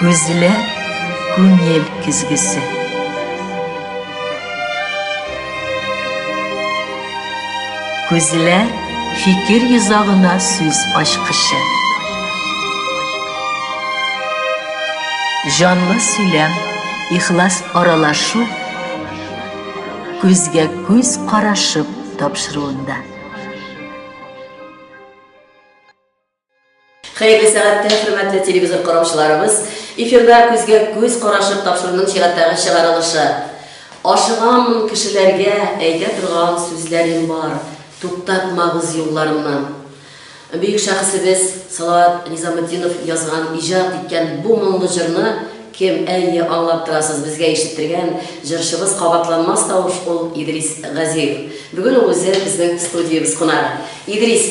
Күзләр күңел көзгесе. Күзләр фикер йозагына сүз ачкычы. Җанлы сөйләм, ихлас аралашу күзгә күз карашып тапшыруында. Хәерле сәгатьтә, хөрмәтле телевизор караучыларыбыз! Эфирда күзгә күз карашып тапшыруның чираттагы чыгарылышы. Ашыгамын кешеләргә әйтә торган сүзләрем бар, туктатмагыз юлларымнан. Бөек шәхесебез Салават Низаметдинов язган, иҗат иткән бу моңлы җырны кем, әйе, аңлап торасыз, безгә ишеттергән җырчыбыз кабатланмас тавыш ул Идрис Газиев. Бүген ул үзе безнең студиябез кунагы. Идрис!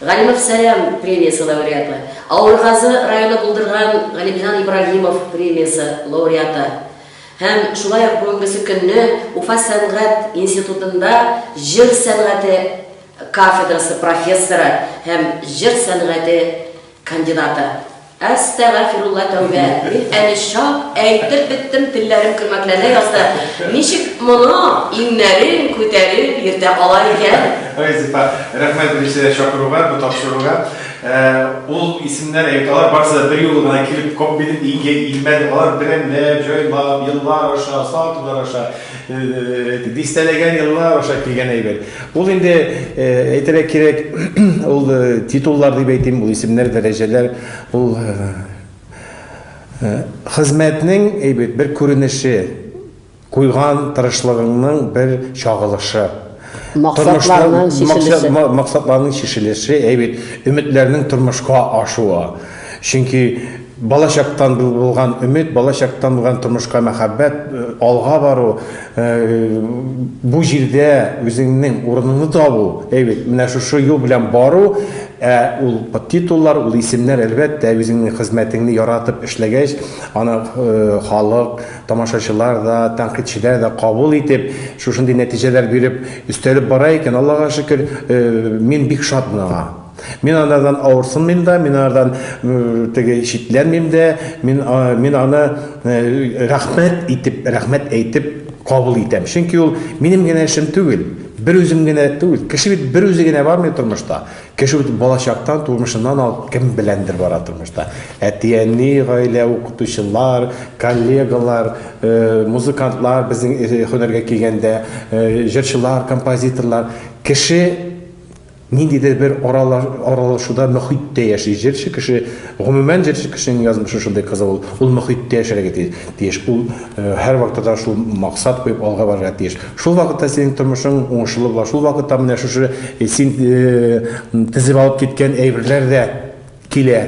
Галимов Сәлам премиясе лауреаты, Авылгазы районы булдырган Галимҗан Ибраһимов премиясе лауреаты һәм шулай ук бүгенгесе көнне Уфа сәнгать институтында җыр сәнгате кафедрасы профессоры һәм җыр сәнгате кандидаты. Әстәгафирулла тәүбә, мин әле чак әйтеп беттем, телләрем көрмәкләнә язды. Ничек моны иңнәрен күтәреп йөртә ала икән? Ой, Зифа, рәхмәт беренчедән чакыруга, бу тапшыруга. Ул исемнәр әйт, алар барысы да берьюлы гына килеп, коп итеп илгә илмәде. Алар берәмләп, җайлап, еллар аша, сатулар аша, Дистәләгән еллар аша килгән әйбер. Ул инде, әйтергә кирәк, ул титуллар дип әйтим, ул исемнәр, дәрәҗәләр, ул хезмәтнең әйбер бер күренеше, куйган тырышлыгыңның бер чагылышы. Максатларның чишелеше. Максатларның чишелеше, әй бит, өметләрнең тормышка ашуы. Чөнки бала чактан булган өмет, бала чактан булган тормышка мәхәббәт, алга бару, бу җирдә үзеңнең урыныңны табу, әй бит, менә шушы юл белән бару, ә ул титуллар, ул исемнәр, әлбәттә, үзеңнең хезмәтеңне яратып эшләгәч, аны халык, Тамашачылар да, тәнкыйтьчеләр дә кабул итеп, шушындый нәтиҗәләр биреп, өстәлеп бара икән, Аллага шөкер, мин бик шатмын аңа. Мин анардан авырсынмыйм да, мин анардан теге читләнмим дә, мин, мин аны рәхмәт итеп, рәхмәт әйтеп кабул итәм. Чөнки ул минем генә эшем түгел, берүзем генә түгел. Кеше бит берүзе генә бармый тормышта. Кеше үз балачактан, тормышыннан алып кем беләндер бара тормышта. Әти-әни, гаилә, укытучылар, коллегалар, музыкантлар, безнең һөнәргә килгәндә, җырчылар, композиторлар. Кеше ниндидер бер аралашуда, мөхиттә яши. Җырчы кеше, гомумән җырчы кешенең язмышы шундый кызык ул. Ул мөхиттә яшәргә тиеш. Ул һәрвакытта да шул максат куеп алга барырга тиеш. Шул вакытта синең тормышың уңышлы була, шул вакытта менә шушы син тезеп алып киткән әйберләр дә килә.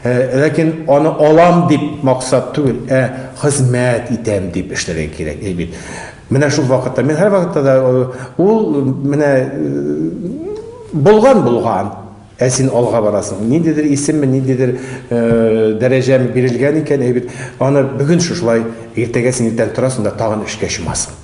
Ләкин аны алам дип максат түгел, ә хезмәт итәм дип эшләргә кирәк, әй бит. Менә шул вакытта, мин һәр вакытта да ул менә булган булган, ә син алга барасың. Ниндидер исемме, ниндидер дәрәҗәме бирелгән икән, әй бит, аны бүген шушылай, иртәгә син иртән торасың да тагын эшкә чумасың.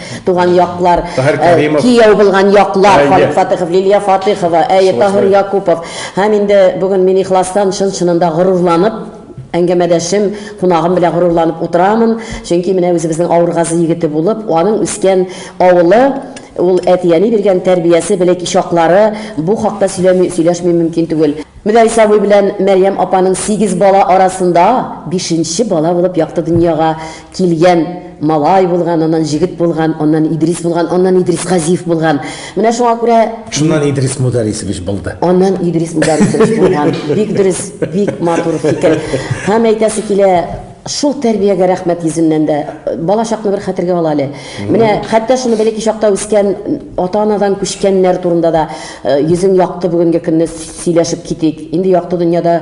Туган яклар, Таһир э, Кәримов. кияү булган яклар, Әйе. Халик Фатыхов, Лилия Фатыхова, әйе, Шулай, Таһир шулай. Якупов. Һәм инде бүген мин ихластан, чын-чынында горурланып, әңгәмәдәшем, кунагым белән горурланып утырамын. Чөнки менә үзебезнең Авыргазы егете булып, аның үскән авылы, ул әти-әни биргән тәрбиясе, белек чаклары, бу хакта сөйләми, сөйләшми мөмкин түгел. Мөдәрис абый белән Мәрьям апаның сигез бала арасында бишенче бала булып якты дөньяга Килгән, малай булган, аннан җегет булган, аннан Идрис булган, аннан Идрис Газиев булган. Менә шуңа күрә... Шуннан Идрис Мударисович булды. Аннан Идрис Мударисович булган. Бик дөрес, бик матур фикер. Һәм әйтәсе килә, шул тәрбиягә рәхмәт йөзеннән дә. Бала чакны бер хәтергә ала әле. Менә хәтта шуны бәләки чакта үскән, ата-анадан күчкәннәр турында да йөзең якты бүгенге көнне сөйләшеп китик. Инде якты дөньяда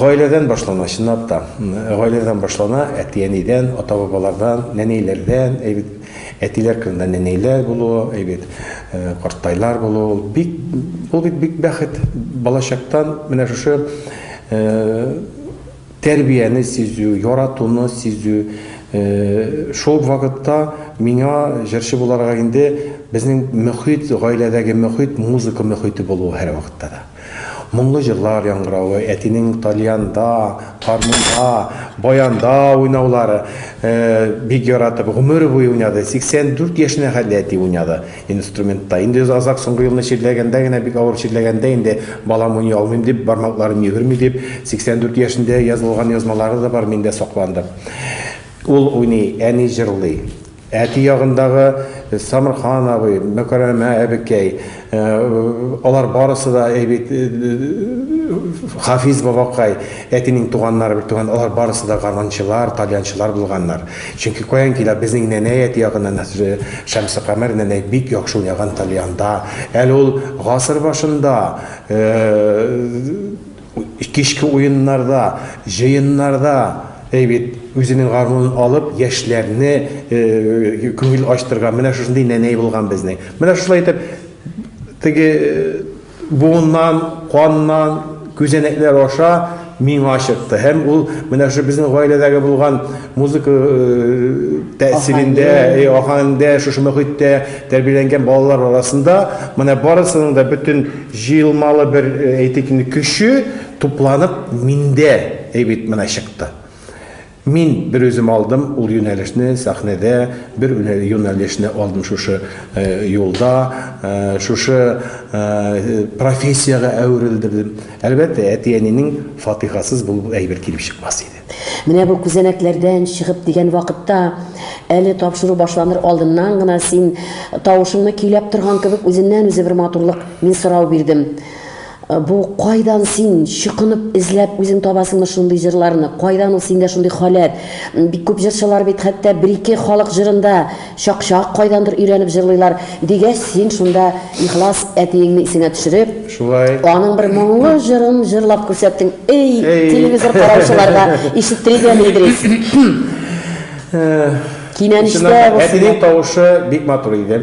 Гаиләдән башлана, чынлап та. Гаиләдән башлана, әти-әнидән, ата-бабалардан, нәнәйләрдән, әйбит. Әтиләр кырында нәнәйләр булуы, әйбит, картайлар булуы, ул бик, ул бит бик бәхет. Балачактан менә шушы тәрбияне сизү, яратуны сизү, шул ук вакытта миңа җырчы буларга инде безнең мөхит, гаиләдәге мөхит, музыка мөхите булуы һәрвакытта да. Моңлы җырлар яңгыравы, әтинең тальянда, гармунда, баянда уйнаулары, бик яратып, гомер буе уйнады. 84 яшенә хәтле әти уйнады инструментта. Инде озак соңгы елны чирләгәндә генә, бик авыр чирләгәндә инде балам уйный алмыйм дип, бармакларым йөгерми дип, 84 яшендә язылган язмалары да бар, миндә сакланды. Ул уйный, әни җырлый. Әти ягындагы Самырхан абый, Мөкәрәмә әбекәй, алар барысы да әйбит, Хафиз бабакай, әтинең туганнары, бертуган, алар барысы да гармунчылар, тальянчылар булганнар. Чөнки каян килә, безнең нәнәй әти ягыннан Шәмсекамәр нәнәй бик яхшы уйнаган тальянда. Әле ул гасыр башында, Кичке уеннарда, җыеннарда, әй бит, үзенең гармунын алып, яшьләрне күңел ачтырган менә шушындый нәнәй булган безнең. Менә шулай итеп, теге буыннан, каннан, күзәнәкләр аша миңа чыкты. Һәм ул менә шушы безнең гаиләдәге булган Музыка тәэсирендә, ахаңдә, шушы мөхиттә тәрбияләнгән балалар арасында менә барысының да бөтен җыелмалы бер, әйтик инде, көче тупланып миндә әйбит менә чыкты. Мин бер үзем алдым ул юнәлешне сәхнәдә, бер юнәлешне алдым шушы юлда, шушы профессиягә әверелдердем. Әлбәттә, әти-әнинең фатихасыз бу әйбер килеп чыкмас иде. Менә бу күзәнәкләрдән чыгып дигән вакытта, әле тапшыру башланыр алдыннан гына син тавышыңны көйләп торган кебек үзеннән-үзе бер матурлык мин сорау бирдем. Э, бу кайдан син чукынып эзләп үзең табасыңмы шундый җырларны кайдан ул синдә шундый халәт бик күп җырчылар бит хәтта бер ике халык җырында Чак-чак кайдандыр өйрәнеп җырлыйлар, дигәч, син шунда ихлас әтиеңне исеңә төшереп, Шулай. аның бер моңлы җырын җырлап күрсәттең. Эй, Эй. телевизор караучылар да ишеттерик әле, Идрис. Кинәнештә Чыннан да, булсыннар. әтинең тавышы бик матур иде.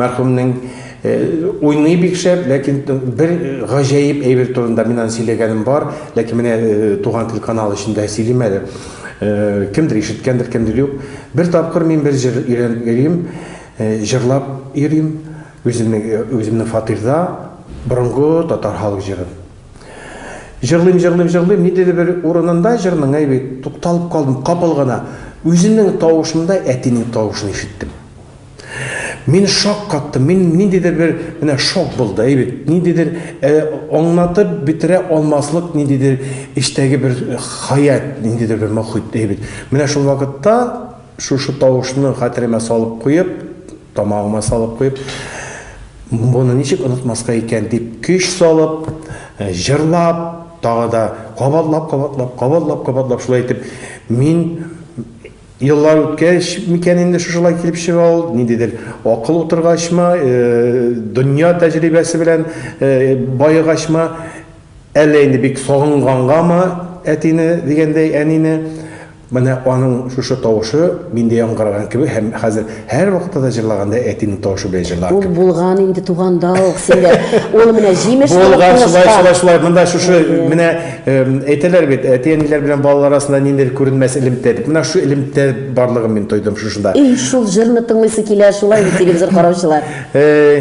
Мәрхүмнең э, уйный бик шәп, ләкин т- бер гаҗәеп әйбер турында мин аны сөйләгәнем бар, ләкин менә э, Туган тел каналы эчендә сөйлим әле. Кемдер ишеткәндер, кемдер юк. Бер тапкыр мин бер җыр өйрәнеп йөрим, җырлап йөрим, үземнең, үземнең фатирда борынгы татар халык җырын. Җырлыйм, җырлыйм, җырлыйм, ниндидер бер урынында җырның әйбе тукталып калдым, капыл гына үземнең тавышымда әтинең тавышын ишеттем. Мин шаккаттым, мин ниндидер бер менә шок булды, әй бит, ниндидер э, аңлатып бетерә алмаслык ниндидер эчтәге бер хаят, ниндидер бер мохит, әй бит. Менә шул вакытта шушы тавышны хәтеремә салып куеп, тамагыма салып куеп, моны ничек онытмаска икән дип көч салып, э, җырлап, тагы да кабатлап-кабатлап, кабатлап-кабатлап шулай итеп мин Еллар үткәч микән инде шушылай килеп чыга ул, ниндидер акыл утыргачмы, дөнья тәҗрибәсе белән баегачмы, әллә инде бик сагынгангамы әтине дигәндәй әнине, менә аның шушы тавышы миндә яңгыраган кебек һәм хәзер Һәр вакытта да җырлаганда әтинең тавышы белән җырлар Ул кебек. булган инде туганда ук синдә. Ул менә җимеш булып Булган, шулай, шулай, тулышкан. шулай. Монда шушы Әйе. менә эм, әйтәләр бит, әти-әниләр белән балалар арасында ниндидер күренмәс элемтә дип. Менә шушы элемтә барлыгын мин тойдым шушында. И, шул җырны тыңлыйсы килә, шулай бит телевизор караучылар. Э,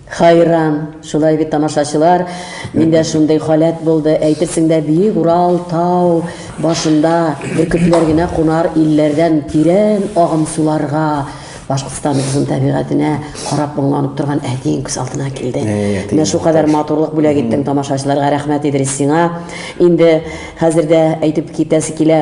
Хайран, шулай бит, тамашачылар, миндә шундый халәт булды, әйтерсең дә биек Урал тау башында бөркетләр генә кунар илләрдән тирән агым суларга Башкортстаныбызның табигатенә карап моңланып торган әтиең күз алдына килде. Менә шул кадәр матурлык бүләк иттең тамашачыларга, рәхмәт Идрис сиңа. Инде хәзер дә әйтеп китәсе килә,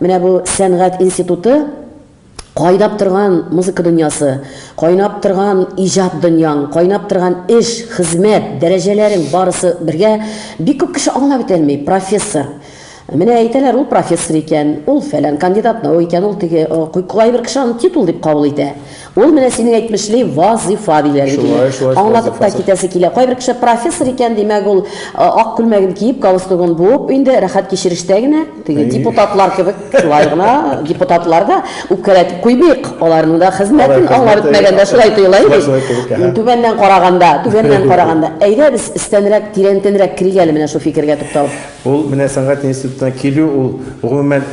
Менә бу сәнгать институты, кайнап торган музыка дөньясы, кайнап торган иҗат дөньяң, кайнап торган эш, хезмәт, дәрәҗәләрең барысы бергә, бик күп кеше аңлап бетәлми, профессор. Менә әйтәләр, ул профессор икән, ул фәлән кандидат наук икән, ул теге, кайбер кеше аны титул дип кабул итә. Ул менә синең әйтмешли вазыйфа диләр бит инде. Аңлатып та китәсе килә. Кайбер кеше профессор икән, димәк, ул ак күлмәген киеп, галстугын буып инде рәхәт кичерештә генә, теге депутатлар кебек, шулай гына, депутатлар да үпкәләтеп куймыйк, аларның да хезмәтен аңлап үтмәгәндә шулай тоела инде. Түбәннән караганда, түбәннән караганда. Әйдә без өстәнрәк, тирәнтенрәк керик әле менә шул фикергә тукталып. Ул менә сәнгать институтына килү, ул гомумән,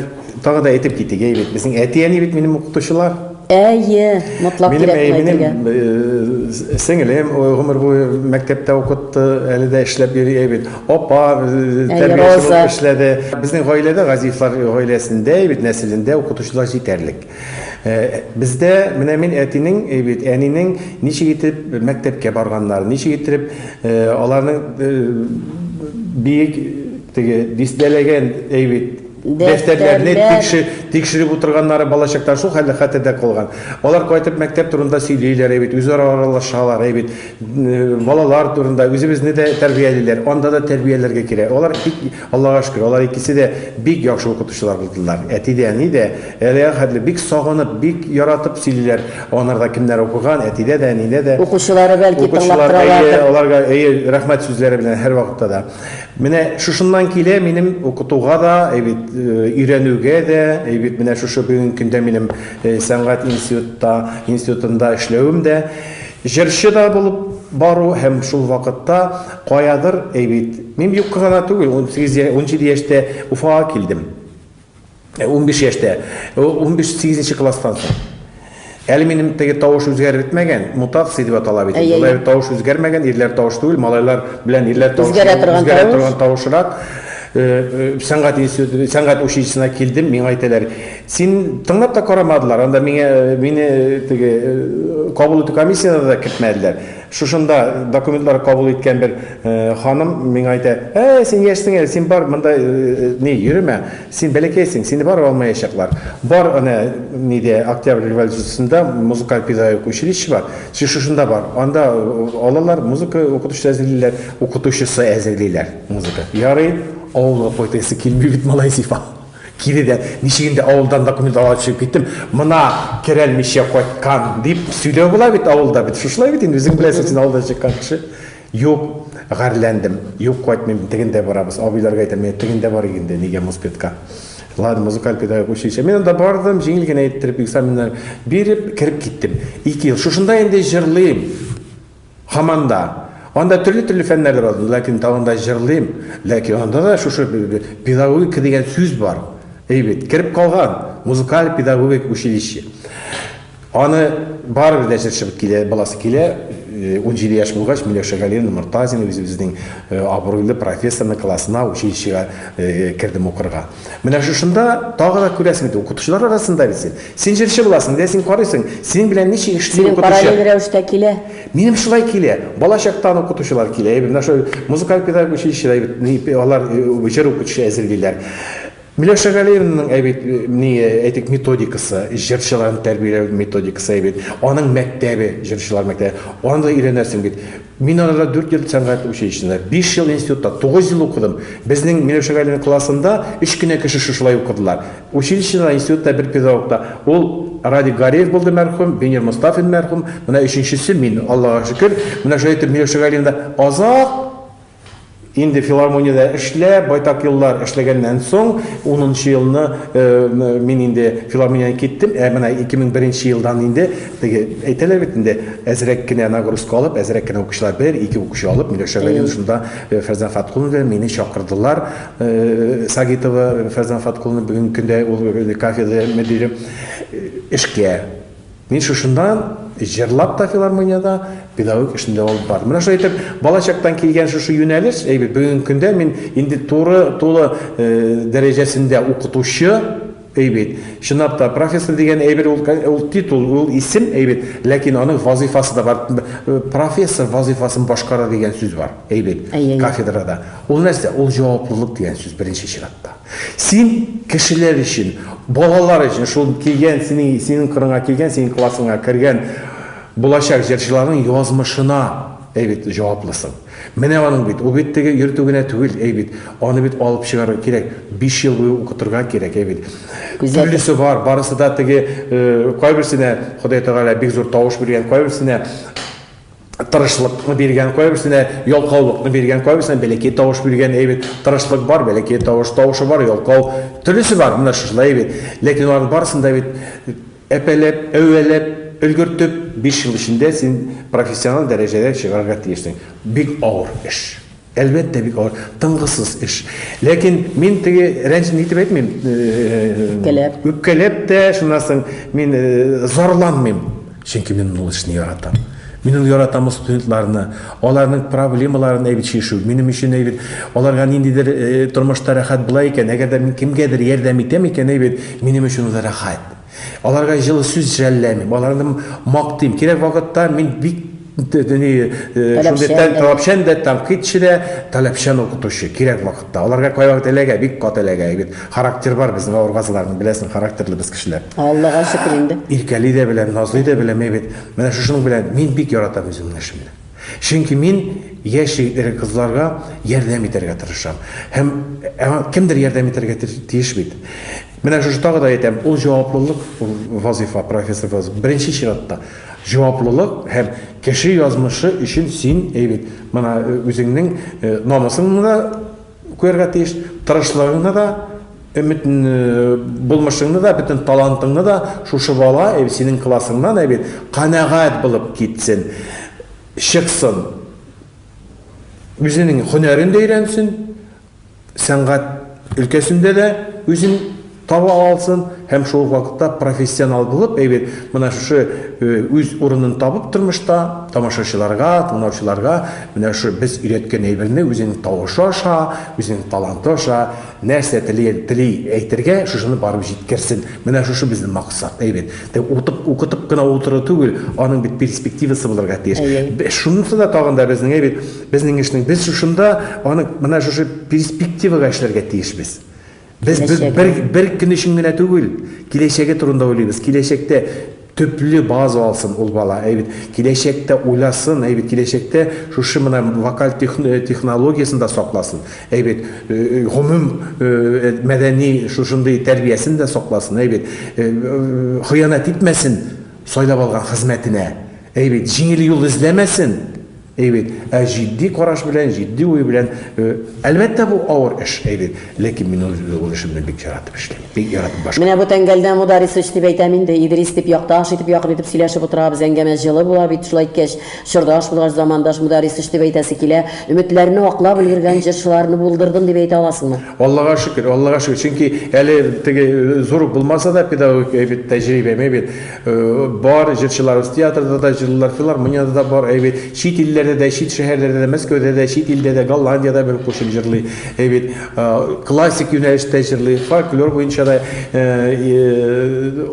тагы да әйтеп китик, әйе бит, безнең әти-әни бит минем укытучылар. Әйе, мотлак кирәк моны әйтергә. Минем э, сеңелем э, гомер буе мәктәптә укытты, әле дә эшләп йөри әйбит. Апа э, тәрбияче булып эшләде. Безнең гаиләдә Газиевлар гаиләсендә әйбит нәселендә укытучылар җитәрлек. Бездә менә мин әтинең әйбит, әнинең ничек итеп мәктәпкә барганнар, ничек итеп аларның биек теге дистәләгән әйбит Дәфтәрләрне тикшереп утырганнары балачактан шул хәлле хәтердә калган. Алар кайтып мәктәп турында сөйлиләр әй бит, үзара аралашалар әй бит. Балалар турында үзебезне дә тәрбиялиләр, анда да тәрбияләргә кирәк. Алар бик, Аллага шөкер, алар икесе дә бик яхшы укытучылар булдылар. Әти дә, әни дә әлегә хәтле бик сагынып, бик яратып сөйлиләр. Анарда кемнәр укыган, әтидә дә, әнидә дә. Укучылары, бәлки, тыңлап торалардыр. Укучылар, әйе, аларга, әйе, рәхмәт сүзләре белән һәрвакытта да. Менә шушыннан килә минем укытуга да, әйбит, өйрәнүгә дә, әйбит, менә шушы бүгенге көндә минем сәнгать институтта, институтында эшләвем дә. Җырчы да булып бару һәм шул вакытта каядыр, әйбит, мин юкка гына түгел, 18 17 яшьтә Уфага килдем. Ә унбиш яшьтә, ул унбиш, сигезенче класстан соң. Әле минем теге тавыш үзгәреп бетмәгән, мутация дип атала бит. Әйе, Болай әйе. тавыш үзгәрмәгән, ирләр тавыш түгел, малайлар белән ирләр тавыш Үзгәрә түгел, торган үзгәрә тавыш. торган тавышрак. Э, э, Сәнгать институты, сәнгать училищесына килдем, миңа әйтәләр, син тыңлап та карамадылар, анда миңа, мине теге э, кабул итү комиссиясенә дә кертмәделәр. Шушында документлар кабул иткән бер ханым миңа әйтә, Ә, син яшьсең әле, син бар, монда ни, йөремә, син бәләкәйсең, сине барып алмаячаклар. Бар әнә нидә, Октябрь революциясендә музыкаль педагогик училище бар, син шушында бар, анда алалар, музыка укытучысы әзерлиләр, укытучысы әзерлиләр, музыка. Ярый, авылга кайтасы килми бит, малай сифа. Кире дә, ничек инде авылдан документ алырга төшеп киттем, мына керәлмичә кайткан, дип сөйләү була бит авылда бит. Шушылай бит инде, үзең беләсең, син авылдан чыккан кеше. Юк, гарьләндем. Юк, кайтмыйм, тегендә барабыз. Абыйларга әйтәм, менә тегендә барыйк инде, нигә моспедка. Ладно, музыкаль педагогик училище. Мин анда бардым, җиңел генә иттереп экзаменнар биреп, кереп киттем. Ике ел. Шушында инде җырлыйм. Һаман да. Анда төрле-төрле фәннәр дә бар, ләкин тагын да җырлыйм. Ләкин анда да шушы педагогика дигән сүз бар. Әй бит, кереп калган, музыкаль педагогик училище. Аны барыбер дә җырчы килә, баласы килә. 17 э, яшь булгач, Миләүшә Галиевна Мортазина үзебезнең э, абруйлы профессорның классына, училищега э, кердем укырга. Менә шушында тагы да күрәсең бит, укытучылар арасында бит син. Син җырчы буласың, дә син карыйсың, синең белән ничек эшли укытучы? Синең параллель рәвештә килә. Минем шулай килә. Бала чактан укытучылар килә. Әйбер, менә шул музыкаль педагог училищеда әйбер, алар э, җыр укытучы әзерлиләр. Миләүшә Галиевнаның әйбит ни әйтик методикасы, җырчыларны тәрбияләү методикасы әйбит. Аның мәктәбе, җырчылар мәктәбе. Аны да өйрәнәсең бит. Мин арада дүрт ел сәнгать училищесында, биш ел институтта, тугыз ел укыдым. Безнең Миләүшә Галиевна классында өч кенә кеше шушылай укыдылар. Училищеда да, институтта бер педагог та. Ул Радик Гариев булды, мәрхүм, Венер Мостафин, мәрхүм, менә өченчесе мин, Аллага шөкер. Менә шулай итеп Миләүшә Галиевна азак. Инде филармониядә эшләп, байтак еллар эшләгәннән соң, унынчы елны мин инде филармониядән киттем, ә менә 2001 нче елдан инде, теге әйтәләр бит инде, әзрәк кенә нагрузка алып, әзрәк кенә укучылар, бер, ике укучы алып, Миләүшә Галиевна шунда Фәрзәнә Фаткуллина мине чакырдылар, Сагитова Фәрзәнә Фаткуллина, бүгенге көндә ул кафедра мөдире, эшкә. Мин шушында җырлап та филармониядә педагогик эшне дәвам алып бардым. Менә шулай итеп, балачактан килгән шушы юнәлеш, әйбәт, бүгенге көндә мин инде туры тулы э, дәрәҗәсендә укытучы, әйбәт. Чынлап та профессор дигән әйбер ул, ул титул, ул исем әйбәт, ләкин аның вазифасы да бар. Э, профессор вазифасын башкара дигән сүз бар, әйбәт, кафедрада. Ул нәрсә? Ул җаваплылык дигән сүз беренче чиратта. Син кешеләр өчен, балалар өчен, шул килгән синең, синең кырыңа килгән, синең классыңа кергән булачак җырчыларның язмышына әй бит җаваплысың. Менә аның бит, ул бит теге йөртү генә түгел, әй бит, аны бит алып чыгарга кирәк, биш ел буе укытырга кирәк, әй бит. Төрлесе бар, барысы да теге, кайберсенә Ходай Тәгалә бик зур тавыш биргән, кайберсенә тырышлыкны биргән, кайберсенә ялкаулыкны биргән, кайберсенә бәләкәй тавыш биргән, әйбит. Тырышлык бар, бәләкәй тавыш, тавышы бар, ялкау. Төрлесе бар, менә шушылай әйбит. Ләкин алар барысын да бит әпәләп, әвәләп, өлгертеп 5 ел эчендә син профессионал дәрәҗәгә чыгарга тиешсең. Бик авыр эш. Әлбәттә, бик авыр, тынгысыз эш. Ләкин мин теге рәнҗен итеп әйтмим. Үпкәләп. Үпкәләп тә, шуннан соң мин зарланмыйм. Чөнки мин ул эшне яратам. Мин ул яратам студентларны, аларның проблемаларын әйбит чишү. Минем өчен әйбит, аларга ниндидер тормышта рәхәт була икән, әгәр дә мин кемгәдер ярдәм итәм икән, әйбит, минем өчен ул рәхәт. Аларга җылы сүз жәлләмим, аларны мактыйм. Кирәк вакытта мин бик шундый таләпчән дә, тәнкыйтьче дә, таләпчән укытучы. Кирәк вакытта. Аларга кайвакыт эләгә, бик каты эләгә. Бит характер бар безнең авыргазларның, беләсең, характерлы без кешеләр. Аллага шөкер инде. Иркәли дә беләм, назлый да беләм, әйбәт. Менә шушының белән мин бик яратам үземнең эшемне. Чөнки мин яшь егетләргә, кызларга ярдәм итәргә тырышам. Һәм кемдер ярдәм итәргә тиеш бит. Менә шушы тагы да әйтәм, ул җаваплылык вазифа, профессор вазифа. Беренче чиратта җаваплылык һәм кеше язмышы өчен син әйбит. Менә э, үзеңнең э, намысыңны да күрергә тиеш, тырышлыгыңны да, өмет э, булмышыңны да, бөтен талантыңны да шушы бала әйбит синең классыңнан әйбит канәгать булып китсен, чыксын. Үзенең һөнәрен дә өйрәнсен, сәнгать өлкәсендә дә үзен таба алсын һәм шул ук вакытта профессионал булып, әйбер, менә шушы үз урынын табып тормышта, тамашачыларга, тыңлаучыларга менә шушы без өйрәткән әйберне үзенең тавышы аша, үзенең таланты аша нәрсә тели, тели әйтергә, шушыны барып җиткерсен. Менә шушы безнең максат, әйбер. Тә утып, укытып кына утыру түгел, аның бит перспективасы булырга тиеш. Шунысы да тагын да безнең әйбер Безнең эшнең без шушында аны менә шушы перспективага эшләргә тиешбез. Без бер бер көн өчен генә түгел, киләчәге турында уйлыйбыз. Киләчәктә төпле база алсын ул бала. Әйбит, киләчәктә уйласын, әйбит, киләчәктә шушы менә вокаль э, технологиясен дә сакласын. Әйбит, э, э, гомум мәдәни шушындый тәрбиясен дә сакласын, әйбит. Хыянәт итмәсен сайлап алган хезмәтенә. Әйбит, җиңел юл эзләмәсен. Әй бит, ә җитди караш белән, җитди уй белән, әлбәттә, бу авыр эш, әй бит, ләкин мин ул эшемне бик яратып эшлим, бик яратып башкарам. Менә бу тәңгәлдә Мударисыч дип әйтәм инде, Идрис дип якташ итеп, якын итеп сөйләшеп утырабыз, әңгәмә җылы була бит, шулай иткәч, чордаш булгач, замандаш Мударисыч дип әйтәсе килә. Өметләрне аклап өлгергән җырчыларны булдырдым дип әйтә аласыңмы? Аллага шөкер, Аллага шөкер, чөнки әле теге зур ук булмаса да, педагогик, әй бит, тәҗрибәм, әй бит, Бар, җырчыларыбыз театрда да җырлыйлар, филармониядә дә бар, әйбит. Чит илләрдә дә, чит шәһәрләрдә дә, Мәскәүдә дә, чит илдә дә, Голландиядә бер кушып җырлый, әйбит. Классик юнәлештә җырлый, фольклор буенча да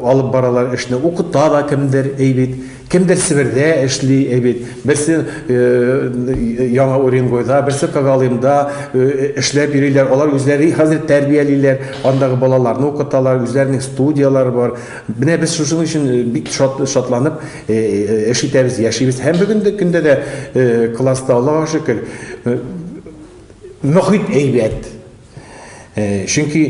алып баралар эшне, укыта да кемдер, әйбит. Кемдер Себердә эшли, әйбит. Берсе Яңа Уренгойда, берсе Когалымда эшләп йөриләр. Алар үзләре хәзер тәрбиялиләр, андагы балаларны укыталар, үзләренең студияләре бар. Менә без шушының өчен бик шат, шатланып эш итәбез, яшибез. Һәм бүгенге көндә дә класста, Аллага шөкер, мөхит әйбәт. Чөнки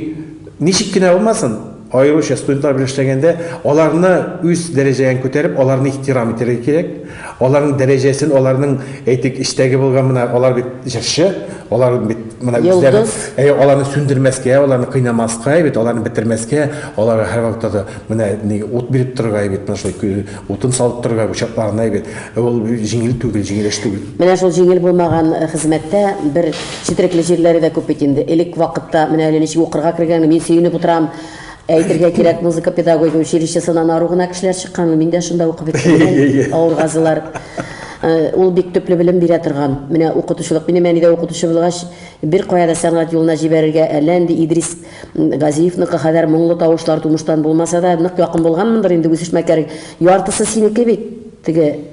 ничек кенә булмасын, аеруча студентлар белән эшләгәндә, аларны үз дәрәҗәгә күтәреп, аларны ихтирам итәргә кирәк. Аларның дәрәҗәсен, аларның, әйтик, эчтәге булган менә алар бит җырчы, алар бит менә үзләре, Йолдыз. әйе, аларны сүндермәскә, аларны кыйнамаска, әйе бит, аларны бетермәскә, аларга һәрвакытта да менә ни ут биреп торырга, әйе бит, менә шулай кө- утын салып торырга учакларына, әйе бит. Ә Ул җиңел түгел, җиңел эш түгел. Менә шул җиңел булмаган э, хезмәттә бер четерекле җирләре дә күп бит инде. Элек вакытта менә әле ничек укырга кергәнне мин сөенеп утырам. Әйтергә кирәк, музыка педагогия училищесыннан ару гына кешеләр чыккан, мин дә шунда укып беттем, авыргазылар. Э, ул бик төпле белем бирә торган. Менә укытучылык, минем әни дә укытучы булгач, бер кая да сәнгать юлына җибәрергә, әллә нинди Идрис Газиевныкы хәдәр моңлы тавышлар тумыштан булмаса да, нык якын булганмындыр инде үсешмәкәр. Яртысы синеке бит, теге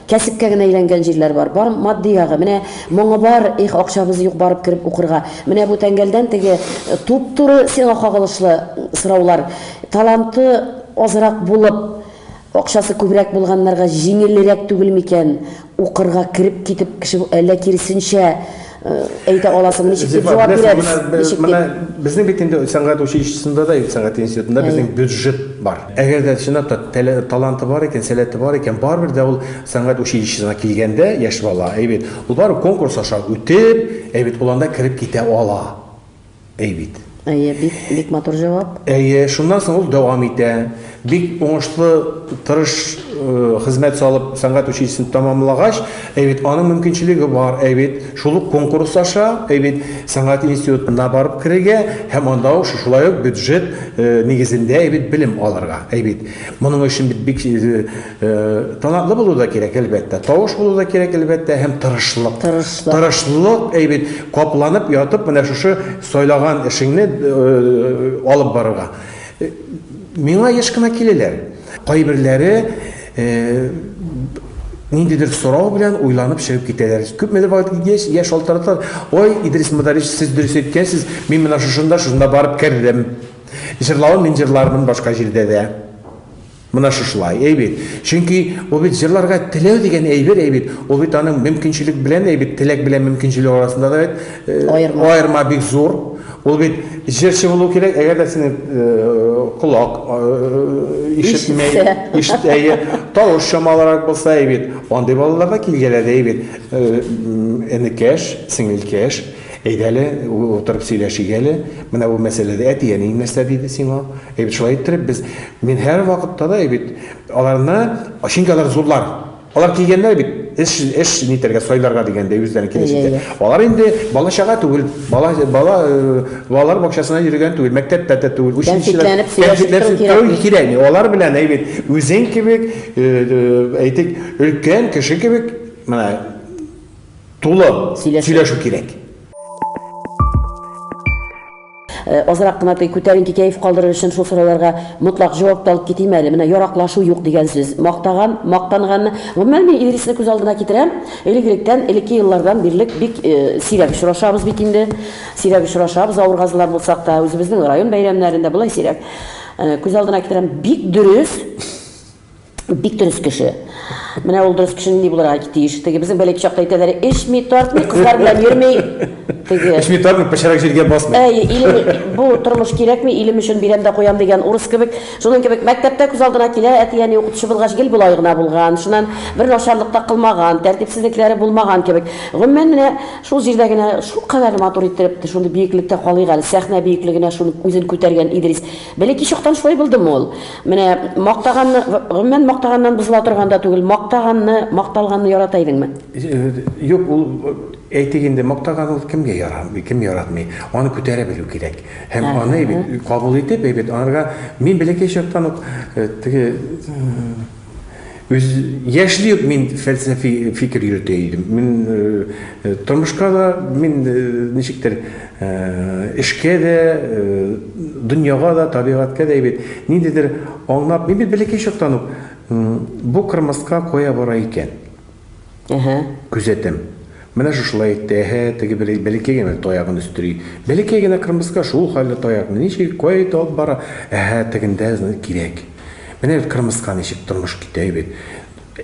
Кәсепкә генә әйләнгән җирләр бар. Бар матди ягы. Менә моңы бар, их, акчабыз юк барып кереп укырга. Менә бу тәңгәлдән теге туп-туры сиңа кагылышлы сораулар. Таланты азрак булып, акчасы күбрәк булганнарга җиңелрәк түгел микән укырга кереп китеп кеше, әллә киресенчә, Әйтә аласың, ничек дип җавап бирәбез? Ничек дип? Безнең бит инде сәнгать училищесында да, сәнгать институтында безнең бюджет бар. Әгәр дә чынлап та таланты бар икән, сәләте бар икән, барыбер дә ул сәнгать училищесына килгәндә яшь бала, әйбит, ул бар конкурс аша үтеп, әйбит, ул анда кереп китә ала. Әй бит. Әйе, бик, бик матур җавап. Әйе, шуннан соң ул дәвам итә. Бик уңышлы, тырыш э, хезмәт салып, сәнгать училищесын тәмамлагач, әй бит, аның мөмкинчелеге бар, әй бит, шул ук конкурс аша, әй бит, сәнгать институтына барып керергә һәм анда ук шулай ук бюджет э, нигезендә, әй бит, белем алырга, әй бит. Моның өчен бит бик э, Э, талантлы булу да кирәк, әлбәттә. Тавыш булу да кирәк, әлбәттә, һәм тырышлык. Тырышлык. Тырышлык, әйбит, капланып ятып, менә шушы сайлаган эшеңне э, алып барырга. Э, миңа еш кына киләләр. Кайберләре ниндидер сорау белән уйланып чыгып китәләр. Күпмедер вакыт киткәч, я шалтыраталар. Ой, Идрис Мударич, сез дөрес әйткәнсез, мин менә шушында, шунда барып кердем. Җырлавын мин җырлармын башка җирдә дә. Менә шушылай, әй бит. Чөнки ул бит җырларга теләү дигән әйбер, әй бит. Ул бит аның мөмкинчелек белән, әй бит, теләк белән мөмкинчелек арасында да бит аерма, аерма бик зур. Ул бит җырчы булу кирәк, әгәр дә синең колак ишетмәй, ишетәе, тавыш чамалырак булса, әй бит. Андый балалар да килгәләде, әй бит. Энекәш, сеңелкәш, әйдәле, утырып сөйләшик әле. Менә бу мәсьәләдә әти-әниең нәрсә диде сиңа? Әй бит шулай иттереп без, мин һәрвакытта да, әй бит, аларны, чөнки алар зурлар. Алар килгәннәр бит, эш, эш нитәргә, сайларга дигәндәй, үзләренең килеш Әйе, итә. әйе. Алар инде бала-чага түгел, бала, бала, э, балалар бакчасына йөргән түгел, мәктәптә дә түгел, училищеда. Кәнфитләнеп сөйләшеп тору Кәнфитләнеп тору кирәкми. кирәкми. Алар белән, әй бит, үзең кебек, э, э, әйтик, өлкән кеше кебек, менә, тулы Сөйләшү. сөйләшү кирәк. Э, азрак кына күтәренке кәеф калдырыр өчен шул сорауларга мотлак җавап та алып китим әле. Менә яраклашу юк дигән сүз. Мактаган, мактанганны. Гомумән мин Идрисне күз алдына китерәм. Элек-электән, элекке еллардан бирлек бик э, сирәк очрашабыз бит инде. Сирәк очрашабыз, авыргазлар булсак та, үзебезнең район бәйрәмнәрендә болай сирәк. Э, күз алдына китерәм, бик дөрес Бик дөрес кеше. Менә ул дөрес кеше нинди булырга тиеш? Теге безнең бәләк чакта әйтәләр, эчми, тартмый, кызлар белән йөрми. Теге. Эчми тартмый, пычрак җиргә басмый. Әй, илем, бу тормыш кирәкми, илем өчен бирәм дә куям дигән урыс кебек. Шуның кебек мәктәптә күз алдына килә, әти-әни укытучы булгач гел болай гына булган. Шуннан бер начарлык та кылмаган, тәртипсезлекләре булмаган кебек. Гомумән, менә шул җирдә генә шулкадәр матур иттереп, шундый биеклектә калыйк әле, сәхнә биеклегенә шуны үзен күтәргән Идрис. Бәләкәй чактан шулай булдымы ул? Менә мактаганны, гомумән мактаганнан бозыла торган да түгел. Мактаганны, макталганны ярата идеңме? Юк, ул әйтик инде мактаган ул кемгә ярамый, кем яратмый. Аны күтәрә белү кирәк. Һәм аны әйбәт кабул итеп, әйбәт анарга мин бәләкәй чактан ук теге Үз яшьли ук мин фәлсәфи фикер йөртә идем. Мин тормышка да, мин ничектер эшкә дә, дөньяга да, табигатькә дә әйбәт. Ниндидер аңлап, мин бит бәләкәй чактан ук бу кырмыска кая бара икән? Әһә. Күзәтәм. Менә шушылай итте, әһә, теге бәле, бәләкәй генә таягын өстери. Бәләкәй генә кырмыска шул хәлле таякны ничек, кая итә алып бара? Әһә, тегендә, зна, кирәк. Менә бит кырмыска ничек тормыш китә, әйбәт.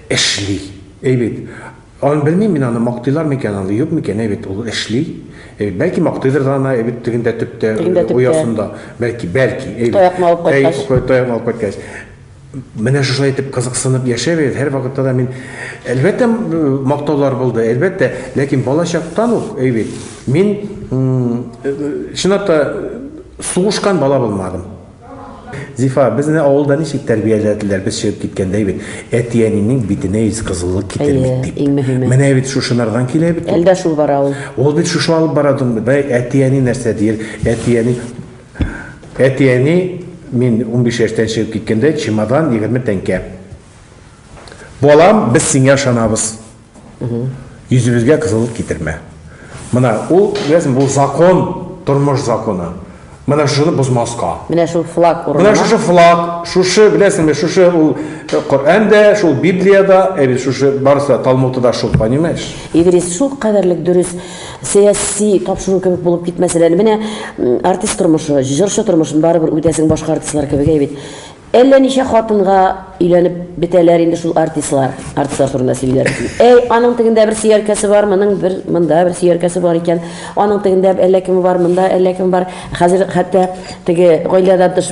Эшли. Әйбәт. Аны белмим мин, аны мактыйлар микән, аны юк микән, әйбәт, ул эшли. Әйбәт. Бәлки мактыйдыр да аны, әйбәт, тегендә төптә, Тегендә төптә. оясында. Бәлки, бәлки, әйбәт. Таякны алып кайткач. Әй, таякны алып кайткач. Менә шулай итеп кызыксынып яшәбез. Һәрвакытта да мин әлбәттә мактаулар булды, әлбәттә, ләкин балачактан ук, әй бит, мин чынлап та сугышкан бала булмадым. Зифа, безне авылда ничек тәрбияләделәр, без чыгып киткәндә бит, әти-әнинең битенә ис кызыллык китермик дип. Иң мөһиме. Менә бит шушынардан килә бит. Әлдә шул бара ул. Ул бит шушы алып бара димбе. Әти-әни нәрсә дияр? Әти-әни Әти-әни, мин унбиш яшьтән чыгып киткәндә, чемодан, егерме тәңкә. Балам, без сиңа ышанабыз. Йөзебезгә кызыллык китермә. Мына ул, беләсең, бу закон, тормыш законы. Менә шуны бозмаска. Менә шул флаг урынына. Менә шушы флаг, шушы, беләсеңме, шушы ул э, Коръән дә, шул Библия да, ә бит шушы барысы да Талмуты да шул, понимаешь? Идрис шул кадәрлек дөрес. сәяси тапшыру кебек булып китмәсен әле. Менә артист тормышы, җырчы тормышын барыбер үтәсең башка артистлар кебек әй бит. Әллә ничә хатынга өйләнеп бетәләр инде шул артистлар. Артистлар турында сөйлиләр. Әй, аның тегендә бер сөяркәсе бар, моның бер монда бер сөяркәсе бар икән. Аның тегендә әллә кеме бар, монда әллә кем бар. Хәзер хәтта теге гаиләдән тыш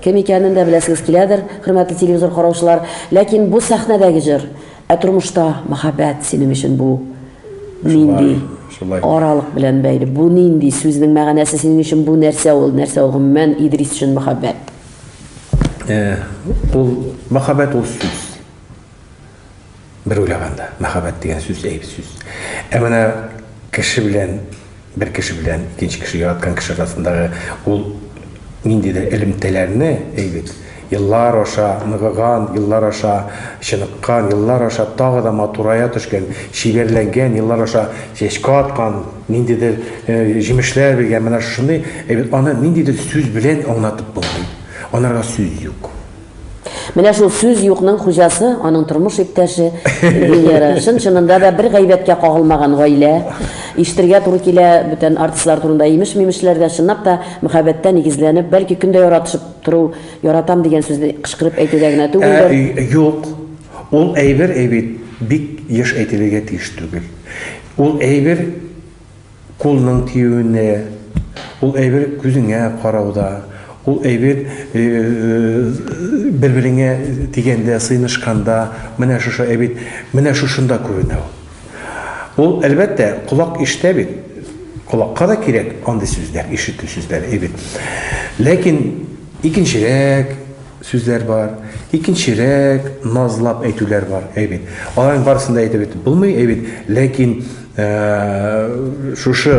Кем икәнен дә беләсегез киләдер, хөрмәтле телевизор караучылар, ләкин бу сәхнәдәге җыр, ә тормышта мәхәббәт синең өчен бу нинди аралык белән бәйле, бу нинди, сүзнең мәгънәсе синең өчен бу нәрсә ул, нәрсә ул гомумән Идрис өчен мәхәббәт? Ул мәхәббәт ул сүз. Бер уйлаганда, мәхәббәт дигән сүз әйб сүз. Ә менә кеше белән, бер кеше белән икенче кеше, яраткан кеше арасындагы ул ниндидер элемтәләрне, әйбит, еллар аша ныгыган, еллар аша чыныккан, еллар аша тагы да матурая төшкән, чибәрләнгән, еллар аша чәчкә аткан, ниндидер җимешләр биргән, менә шушындый әйбит. Аны ниндидер сүз белән аңлатып булмый. Анарга сүз юк. Менә шул сүз юкның хуҗасы, аның тормыш иптәше Венера. Чын-чынында да бер гайбәткә кагылмаган гаилә. Ишетергә туры килә бүтән артистлар турында имеш-мимешләр дә, чынлап та мөхәббәттә нигезләнеп, бәлки көн дә яратышып тору, яратам дигән сүзне кычкырып әйтүдә генә түгелдер. Ә, юк. Ул әйбер әйбит бик еш әйтелергә тиеш түгел. Ул әйбер кулның тиюенә, ул әйбер күзеңә карауда, ул әйбер бер-береңә тигәндә, сыенышканда, менә шушы әйбер, менә шушында күренә ул. Ул, әлбәттә, колак ишетә бит, колакка да кирәк андый сүзләр, ишетү сүзләре, әйбер. Ләкин икенчерәк сүзләр бар, икенчерәк назлап әйтүләр бар, әйбер. Аларның барысын да әйтеп бетеп булмый, әйбер, ләкин Ә, шушы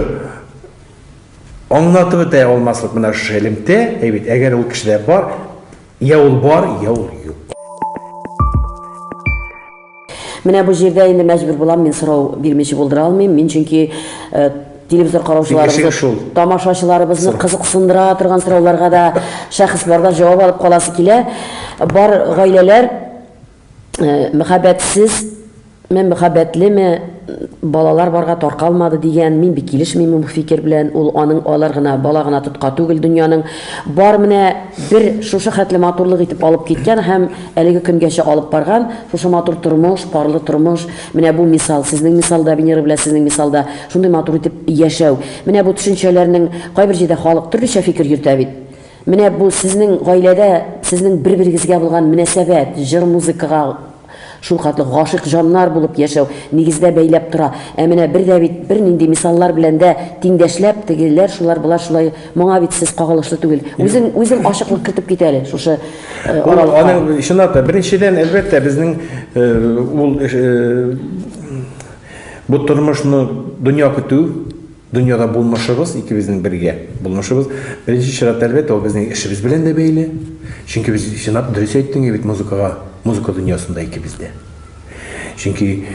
аңлатып бетә алмаслык менә шушы элемтә, әйбит, әгәр ул кешедә бар, я ул бар, я ул юк. Менә бу җирдә инде мәҗбүр булам мин сорау бирмичә булдыра алмыйм. Мин чөнки э, телевизор караучыларыбызны, тамашачыларыбызны кызыксындыра торган сорауларга да шәхесләрдән җавап алып каласы килә. Бар гаиләләр Мәхәббәтсезме, мәхәббәтлеме, балалар барга таркалмады дигән, мин бик килешмим бу фикер белән, ул аның алыр гына, бала гына тотка түгел дөньяның, бар менә бер шушы хәтле матурлык итеп алып киткән һәм әлеге көнгәчә алып барган, шушы матур тормыш, парлы тормыш, менә бу мисал, сезнең мисалда, Венера белән сезнең мисалда, шундый матур итеп яшәү. Менә бу төшенчәләрнең, кайбер җирдә халык төрлечә фикер йөртә бит. Менә бу сезнең гаиләдә сезнең бер-берегезгә булган мөнәсәбәт, җыр-музыкага шулкатлы гашыйк җаннар булып яшәү нигездә бәйләп тора. Ә менә бер дә бит бернинди мисаллар белән дә тиңдәшләп, тегеләр шулар, болар шулай, моңа бит сез кагылышлы түгел. Үзең, үзең ачыклык кертеп кит әле шушы аралыкка. Ул аның, чынлап та, беренчедән, әлбәттә, безнең ул бу тормышны дөнья көтү. Дөньяда булмышыбыз икебезнең бергә булмышыбыз, беренче чиратта, әлбәттә, ул безнең эшебез белән дә бәйле. Чөнки без, чынлап, дөрес әйттең бит, музыкага, музыка дөньясында икебез дә. Чөнки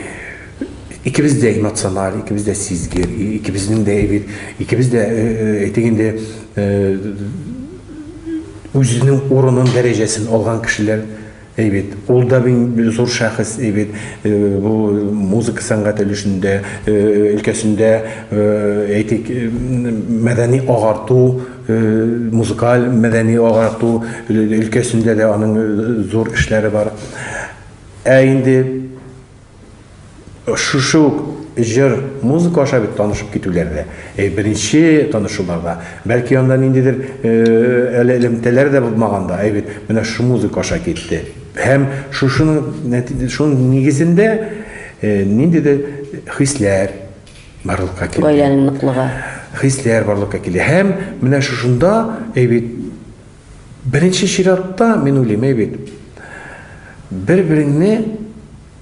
икебез дә эмоциональ, икебез дә сизгер, икебезнең дә бит, икебез дә, әйтик инде, үзенең урынын, дәрәҗәсен алган кешеләр. Әй бит, ул да бит зур шәхес, әй бит, бу музыка сәнгате өлешендә, өлкәсендә, әйтик, мәдәни агарту, музыкаль мәдәни агарту өлкәсендә дә аның зур эшләре бар. Ә инде Шушы ук җыр, музыка аша бит танышып китүләр дә. Э, беренче танышуларда, бәлки анда ниндидер э, әле элемтәләр дә булмаган да, әй бит менә шушы музыка аша китте. Һәм шушының шуның нигезендә э, ниндидер хисләр барлыкка килә. Гаиләнең ныклыгы. Хисләр барлыкка килә. Һәм менә шушында әй бит Беренче чиратта, мин уйлыйм, әй бит, бер-береңне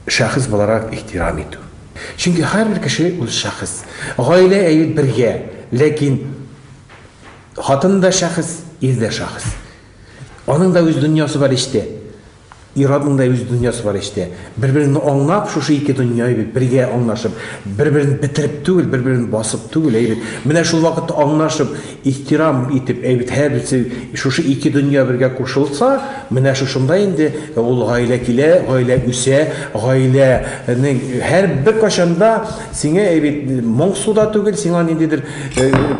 шәхес буларак ихтирам итү. Чөнки һәрбер кеше үз шәхес. Гаилә әйбит бергә, ләкин хатын да шәхес, ир дә шәхес. Аның да үз дөньясы бар эчтә. Ир-атның да үз дөньясы бар эчтә. Бер-береңне аңлап, шушы ике дөнья, әйбәт, бергә аңлашып, бер-берен бетереп түгел, бер-берен басып түгел, әйбәт, менә шул вакытта аңлашып, ихтирам итеп, әйбәт, һәрберсе шушы ике дөнья бергә кушылса, менә шушында инде ул гаилә килә, гаилә үсә, гаиләнең һәр беркайчан да сиңа, әйбәт, моңсу да түгел, сиңа ниндидер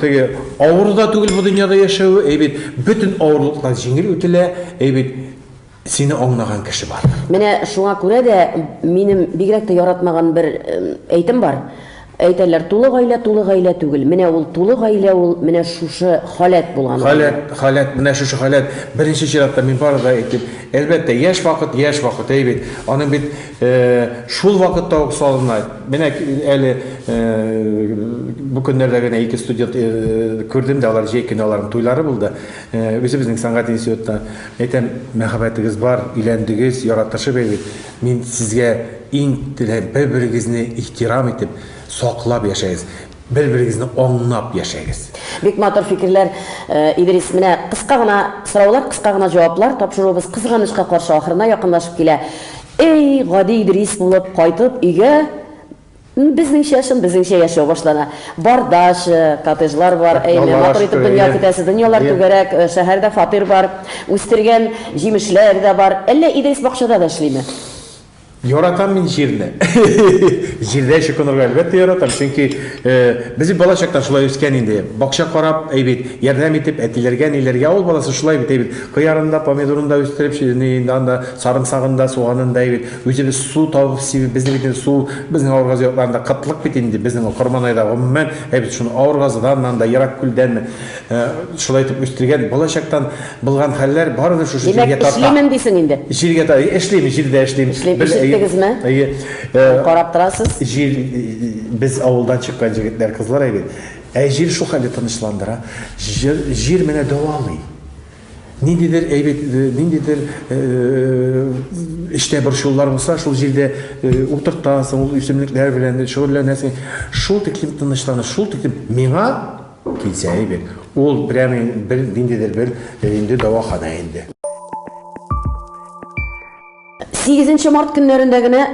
теге авыр да түгел бу дөньяда яшәве, әйбәт, бөтен авырлыклар җиңел үтелә, әйбәт. Сине аңлаган кеше бар. Менә шуңа күрә дә минем бигрәк тә яратмаган бер әйтем бар. Әйтәләр, тулы гаилә тулы гаилә түгел. Менә ул тулы гаилә ул, менә шушы халәт булган гаилә. Халәт, халәт, менә шушы халәт. Беренче чиратта мин бары да әйтим, әлбәттә, яшь вакыт, яшь вакыт, әй бит, аның бит шул вакытта ук салына. Менә әле бу көннәрдә генә ике студент күрдем дә, алар җәй көне аларның туйлары булды. Үзебезнең сәнгать институтына әйтәм, мәхәббәтегез бар, өйләндегез, яратышып әйбит. Мин сезгә иң теләп, бер-берегезне ихтирам итеп, саклап яшәгез. Бер-берегезне аңнап яшәгез. Бик матур фикерләр, Идрис. Менә кыска гына сораулар, кыска гына җаваплар. Тапшыруыбыз кызганычка каршы ахырына якынлашып килә. Әй, гади Идрис булып кайтып, өйгә Безнеңчә, чын безнеңчә яшәү башлана. Бар дача, коттеджлар бар, әйме, матур итеп дөнья көтәсе, дөньялар түгәрәк, шәһәрдә фатир бар, үстергән җимешләр дә бар. Әллә Идрис бакчада да эшлиме? Яратам мин җирне. Җирдә чукынырга әлбәттә яратам, чөнки без бит бала чактан шулай үскән инде. Бакча карап, әй бит, ярдәм итеп, әтиләргә, әниләргә, авыл баласы шулай бит, әй бит, кыярын да, помидорын да үстереп, сарымсагын да, суганын да, әй бит. Үзебез су табып сибеп, безнең бит инде су, безнең авыр газ якларында кытлык бит инде, безнең Корманайда гомумән, ә без шуны авыр газдан да, ерак күлдән шулай итеп үстергән, балачактан булган хәлләр барыбер шушы җиргә тарта. Димәк, эшлимен дисең инде? Җиргә тарта, эшлим, җирдә эшлим. Эшлим, ишеттегезме? Әйе. Карап торасыз? Җир, без авылдан чыккан җегетләр, кызлар әйбит. Ә җир шул хәлдә тынычландыра. Җир, җир менә дәвалый. Ниндидер әйбит, ниндидер эчтә борчулар булса, шул җирдә утыртасың, ул үсемлекләр белән шөгыльләнәсең. Шул тиклем тынычланып, шул тиклем миңа килсә әйбит. Ул прямо бер ниндидер бер инде дәваханә инде. Сигезенче март көннәрендә генә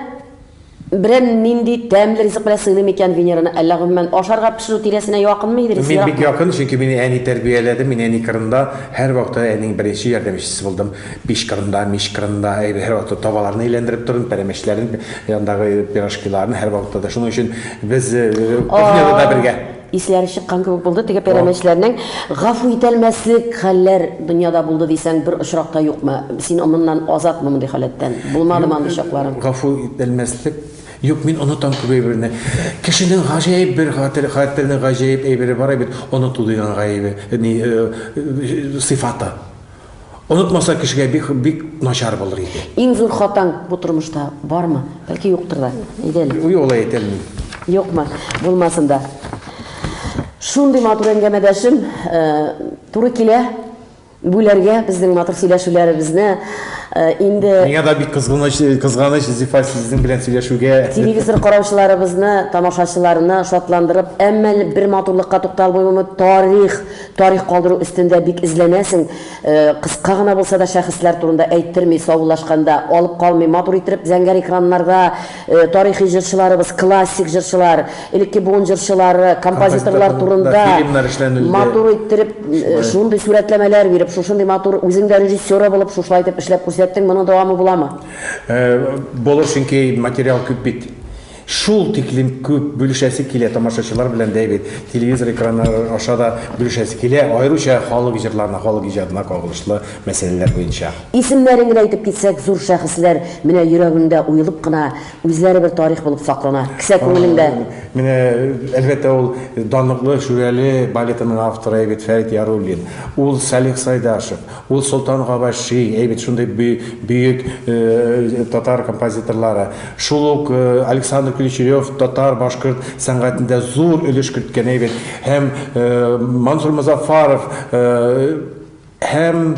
берән нинди тәмле ризык белән сыйлый микән Венераны, әллә гомумән ашарга пешерү тирәсенә якынмы Идрис? Мин бик якын, чөнки мине әни тәрбияләде, мин әни кырында һәрвакытта әнинең беренче ярдәмчесе булдым. Пич кырында, мич кырында һәрвакытта табаларны әйләндереп тордым, пәрәмәчләрен, андагы пирожкиларны һәрвакытта да. Шуның өчен без кухняда да бергә. Исләре чыккан кебек булды, теге пәрәмәчләрнең гафу ителмәслек хәлләр дөньяда булды дисәң, бер очрак та юкмы? Син моннан азатмы мондый халәттән? Булмадымы андый чакларың? Гафу ителмәслек юк, мин онытам күп әйберне. Кешенең гаҗәеп бер хатер, хатиренең гаҗәеп әйбере бар бит, оныту дигән гаебе, ни, сыйфаты. Онытмаса кешегә бик бик начар булыр иде. Иң зур хатаң бу тормышта бармы? Бәлки юктыр да. Әйдә әле. Юк, алай әйтә алмыйм. Юкмы? Булмасын да. Шундый матур әңгәмәдәшем э, туры килә бүләргә безнең матур сөйләшүләребезне э, инде Миңа да бик кызганыч, кызганыч Зифа сезнең белән сөйләшүгә. телевизор караучыларыбызны, тамашачыларны шатландырып, әмма бер матурлыкка тукталмыймы тарих Тарих калдыру өстендә бик эзләнәсең, кыска гына булса да шәхесләр турында әйттерми, саубуллашканда, алып калмый, матур иттереп зәңгәр экраннарда тарихи җырчыларыбыз, классик җырчылар, элекке буын җырчылары, композиторлар турында матур иттереп шундый сурәтләмәләр биреп, шушындый матур, үзең дә режиссеры булып шушылай итеп эшләп күрсәттең, моның дәвамы буламы? Булыр, чөнки материал күп бит. Шул тиклем күп бүлешәсе килә тамашачылар белән дә бит, телевизор экраннары аша да бүлешәсе килә, аеруча халык җырларына, халык иҗатына кагылышлы мәсьәләләр буенча. Исемнәрен генә әйтеп китсәк, зур шәхесләр менә йөрәгеңдә уелып кына, үзләре бер тарих булып саклана. Кесә күңелеңдә. Менә, әлбәттә, ул данлыклы Шүрәле балетының авторы бит Фәрит Яруллин, ул Салих Сайдашев, Ул Солтан Габаши, әй бит шундый бөек татар композиторлары. Шул ук Александр Ключерев татар, башкорт сәнгатендә зур өлеш керткән, әй бит. Һәм Мансур Мозаффаров, һәм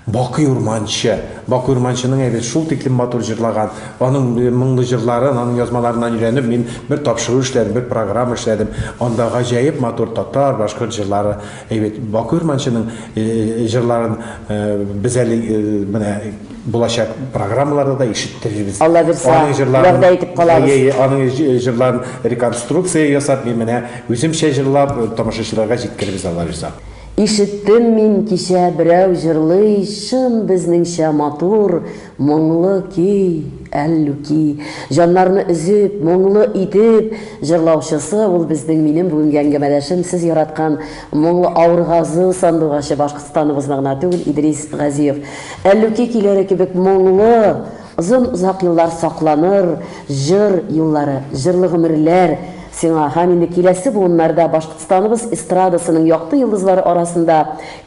Бакый Урманче. Бакый Урманченың, әй бит, шул тиклем матур җырлаган. Аның моңлы җырларын, аның язмаларыннан өйрәнеп, мин бер тапшыру эшләдем, бер программа эшләдем. Анда гаҗәеп матур татар, башкорт җырлары. Әйбәт, Баку Ирманчының җырларын без әле менә булачак программаларда да ишеттерербез. Алла бирсә, Аның җырларын, вәгъдә итеп калабыз. Әйе, әйе, аның җы- җырларын реконструкция ясап, мин менә үземчә җырлап, тамашачыларга җиткерербез, Алла бирсә. Ишеттем мин кичә берәү җырлый Чын безнеңчә матур Моңлы көй, Әллүки! Җаннарны өзеп, моңлы итеп җырлаучысы ул безнең минем бүгенге әңгәмәдәшем, сез яраткан моңлы Аургазы сандугачы Башкортстаныбызны гына түгел, Идрис Газиев. Әллүки көйләре кебек моңлы, озын-озак еллар сакланыр җыр юллары, җырлы гомерләр сиңа һәм инде киләсе буыннарда Башкортстаныбыз эстрадасының якты йолдызлары арасында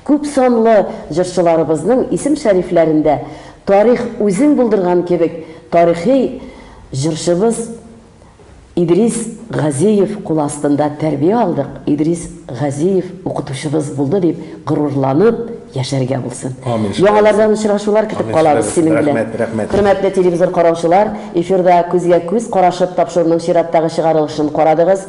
Күп санлы җырчыларыбызның исем-шәрифләрендә тарих үзең булдырган кебек тарихи җырчыбыз Идрис Газиев кулы астында тәрбия алдык, Идрис Газиев укытучыбыз булды дип горурланып яшәргә булсын. Яңалардан очрашулар көтеп калабыз синең белән. Хөрмәтле телевизор караучылар, эфирда күзгә-күз карашып тапшыруның чираттагы чыгарылышын карадыгыз.